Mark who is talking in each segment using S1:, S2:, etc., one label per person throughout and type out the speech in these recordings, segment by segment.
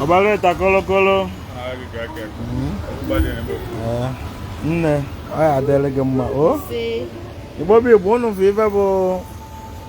S1: obaleta kolokolo nne ọ ya adịlị gị mma o igbo bụ igbo unu fụ ive bụ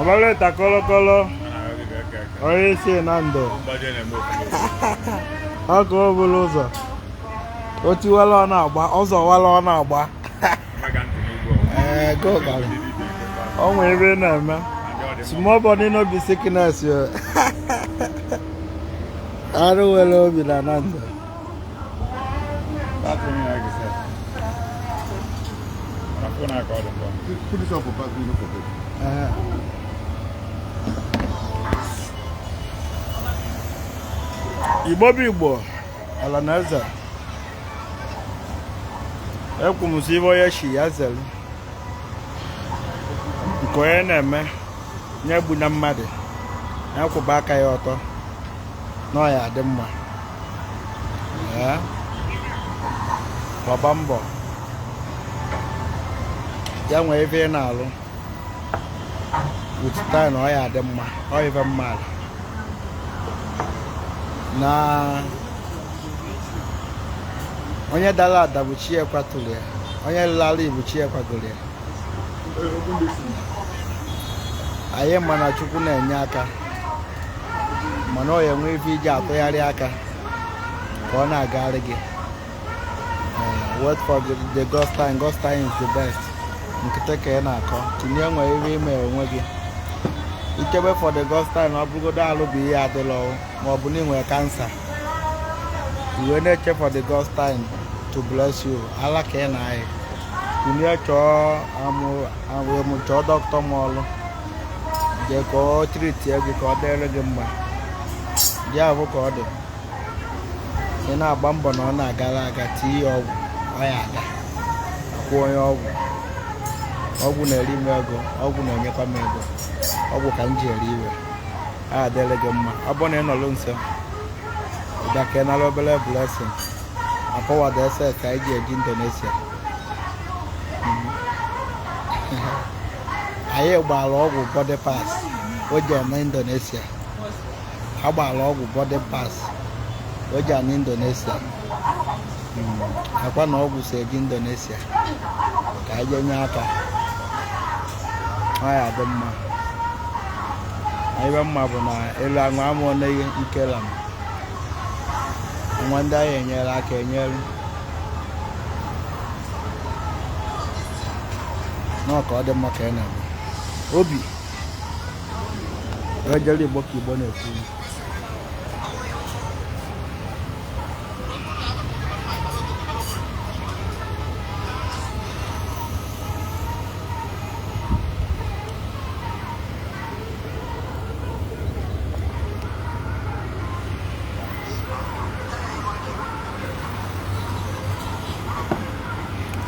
S1: Obaleta kolokolo onye isi Nando ọkụ obulu ụzọ o tiwala ọ na-agba ọ zọwala ọ na-agba ee go gara o nwere ebe ị na-eme small body no be sickness yo arụ wele obi na Nando Put this up for back, you know, for this. Ee. igbo bụ igbo ala na eze ekwu m si ive onye shi ya zelu nke onye na-eme onye egbuna mmadụ ya kwụba aka ya ọtọ na ọ ya adị mma Ee. gbaba mbọ ya nwee ebe ị na-alụ with time ọ ya adị mma ọ ive m mala na onye dala ada bụ chi e kwatụrụ ya onye lala bụ chi e kwagoro ya anyị ma na chukwu na-enye aka mana ọ ya enwe ive e ji atụgharị aka ka ọ na-agara gị eh, wait for the, the God's time God's time is the best nkịtị ka ị na-akọ tinye nwere ihe ime onwe gị i chebe for the God's time ọ bụrụgodu alụ bụ ihe adịla ọwụ ma ọ bụ na ị nwere kansa i wee na-eche for the God's time to bless you ala ka ị na-ayị tinye chọọ amụ amụ amụ chọọ dọkịta ma ọlụ jee ka ọ treat gị ka ọ dịrị gị mma ya bụ ka ọ dị ị na-agba mbọ na ọ na-agara aga tinye ya ọgwụ ọ ya aga akwụ onye ọgwụ ọgwụ na-eri m ego ọgwụ na-enyekwa m ego ọgwụ ka m ji eri iwe a adịrị gị mma ọ bụrụ na ị nọrọ nso bịa ka ị nara obere blessing akọwado ese ka anyị ji eje indonesia anyị gbara ọgwụ boarding pass o ji ana indonesia a gbara ọgwụ boarding pass o ji ana indonesia Mm, ọkwa na ọgwụ si eje indonesia ka anyị jee nye aka ọ ya dị mma ebe mma bụ na elu aṅụ ama oneghi nkela m nwa ndị anyị enyere aka enyere nọọ ka ọ dị mma ka ị na-eme obi Rajali Igbo ka Igbo na-ekwu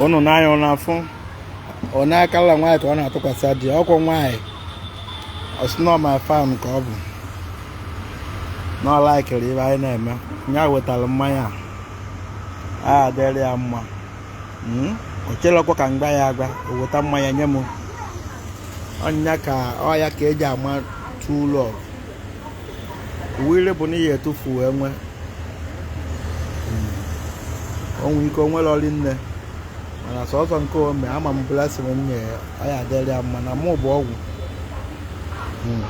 S1: ụnụ n'anya ụnụ afụ ọ na-akala nwaanyị ka ọ na-atụkwasị di ya okwu nwaanyị ọ sị na ọ my fan ka ọ bụ na ọ laikiri ihe anyị na-eme ya wetara mmanya a adịrị ya mma hmm? o chelekwa ka m gwa ya agwa o weta mmanya nye m ọ ya ka ọ ya ka e ji ama true love uwe bụ na ihe etufu enwe hmm. o nwe ike o nwere ọrị nne mana sọsọ nke o me ama m blessiri nye ya ọ ya adịrị ya mma na mụ bụ ọgwụ hmm.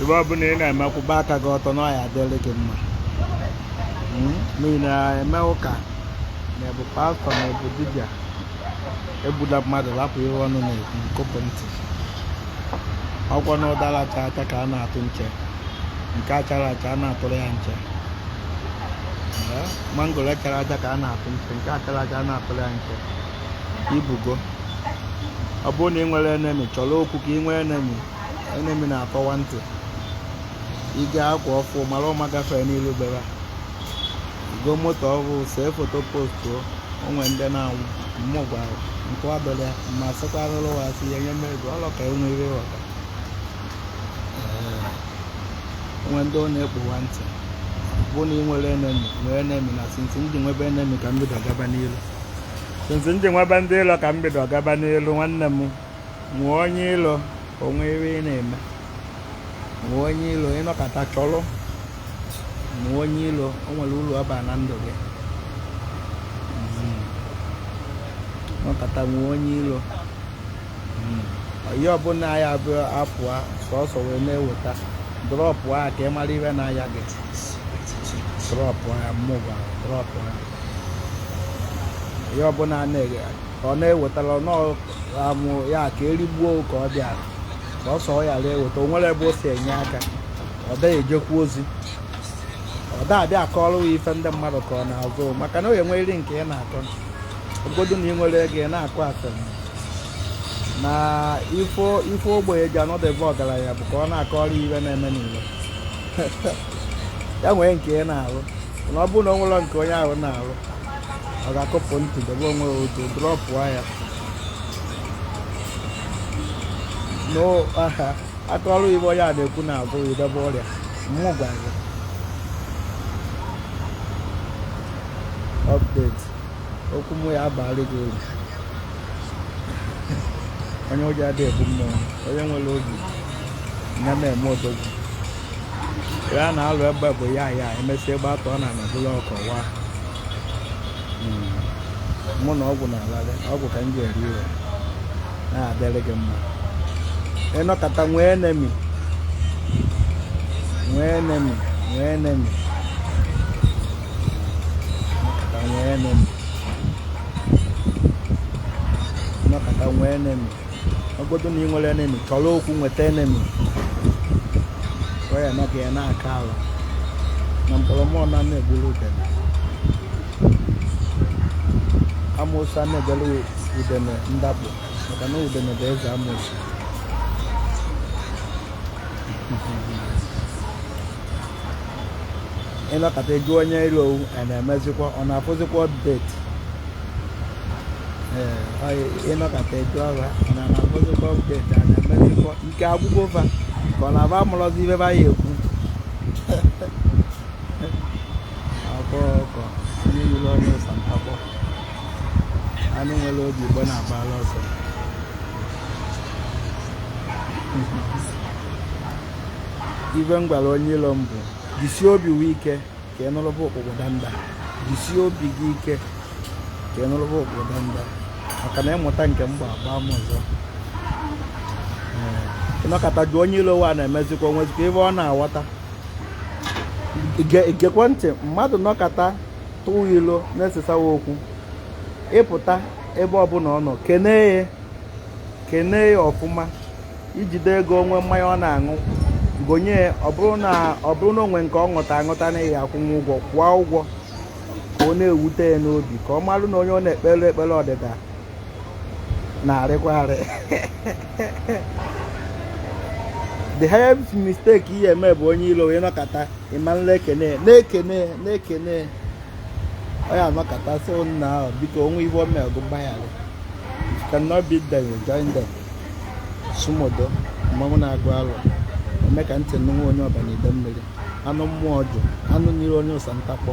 S1: ihe ọ bụla ị na-eme kwụba aka gị ọtọ na ọ ya adịrị gị mma hmm? ma ị na-eme ụka na ị bụ pastọ na ị bụ dibịa egbula mmadụ lapụ ihe ọnụ na-ekwu nkụpụ ntị ọkwa na ụdara chara acha ka a na-atụ nche nke achara acha a na-atụrụ ya nche mangoro chara acha ka a na-atụ nche nke achara acha a na-atụrụ ya nche ị fụgo ọ bụrụ na ị nwere enemi chọrọ okwu ka ị nwee enemi enemi na-akọwa ntị i go akwa ọfụụ mara ụma gafee n'ilu be ya i go moto ọhụụ see foto postuo o nwe ndị na-anwụ mmụ gwara nke ọbịara ya ma sịkwa arụrụ wa asị ya nye mmezu ọlọ ka enwe ire ghọta o nwe ndị ọ na-ekpowa ntị bụ na ị nwere enemi nwee enemi na sinsi m ji nwebe enemi ka m bido gaba n'ilu sinsi m ji nwebe ndị ilo ka m bido gaba n'ilu nwanne m nwee onye ilo o nwe ife ị na-eme nwee onye ilo ị nọkata chọlụ nwee onye ilo o nwere ulu ọ ba na ndụ gị nọkata nwee onye ilo onye ọbụla ya bụ apụa sọsọ iwe na-eweta drọpụ a ka ị mara ihe na-aya gị drọpụ ya mmụba drọpụ ya onye ọbụla na-eghe ka ọ na-ewetara ọ nọọ amụ ya ka erigbuo ka ọ bịara sọsọ ọ ya-eweta o nwere ebe o si enye aka ọ da-ejekwu ozi ọ da-abịa akọrọ ya ife ndị mmadụ kọọ n'azụ maka na onye nwere nke ị na-akọ ogodu na ị nwere ego ị na-akọ asịrị na ife ogbenye ji anọdebe ọgaranya bụ ka ọ na-akọrọ ife na-eme n'ile ya nwee nke ị na-arụ na ọ bụrụ na o nwere nke onye ahụ na-arụ ọ ga-akụpụ ntị debe onwe otu drọpụ ya na-akọrọ ife onye a na-ekwu n'azụ i debe ọrịa mụ gwara gị update okwu mụ ya-abara gị uru onye ụjọ adịghị ebu mmụọ onye nwere obi ya na-eme odogwu ya na-alụ egbe bụ ya ya emesịa egbe atọ na anabụla ọkọwa hmm. mụ na ọgwụ na-alalị ọgwụ ka m ji eri iwe na-adịrị gị mma ị nọkata nwee enemi nwee enemi nwee enemi ị nọkata nwee enemi ị nọkata nwee enemi ogodu na ị nwere enemi chọrọ okwu nweta enemi wee eme ka ya na-aka ala na mkpọrọmụọ na na-egburu udene amoosu a na-egbere udene ndapụ maka na udene bụ eze amoosu ị nọkata jụọ onye iro owu a na-emezikwa ọ na-afụzikwa update ịnọkata etu ọha na na-afụzikwa update a na-emezikwa ike agwụgo fa ka ọ na-aba amarọzi ive fa ya-ekwu akwa ọkọ anụ nyiri onye ụsa ntakpọ anụ nwere obi igbo na-agbara ọsọ ive m gwara onye ilo m bụ jisie obi gị ike ka ị nụrụba ụkpụkpụ danda jisie obi gị ike ka ị nụrụba ụkpụkpụ danda maka na ịmụta nke m gba agba m ọzọ ịnọkata jụọ onye ilo wa na-emezikwa onwezikwa ive ọ na-aghọta igekwe ntị mmadụ nọkata tụwa ilo na-esesawa okwu ịpụta ebe ọbụla ọ nọ kenee ya kenee ya ọfụma ijide ego onwe mmanya ọ na-aṅụ gonye ọ bụrụ na onwe nke ọ ṅụta aṅụta na ya akwụnwe ụgwọ kwụọ ụgwọ ka ọ na-ewute ya n'obi ka ọ marụ na onye ọ na-ekpere ekpere ọdịda na-arịkwa arị the highest mistake ị ya-eme bụ onye ilo onye nọkata ịmara na-ekene na-ekene na-ekene ọ ya-anọkata so nna ahụ biko onwe ive o mere gụ gbaghara you cannot beat them you join them sumodo mmanwụ na-agụ alụ eme ka ntị nụnwa onye ọba na ide mmiri anụ mmụọ jụ anụ nyiri onye ụsa ntakpọ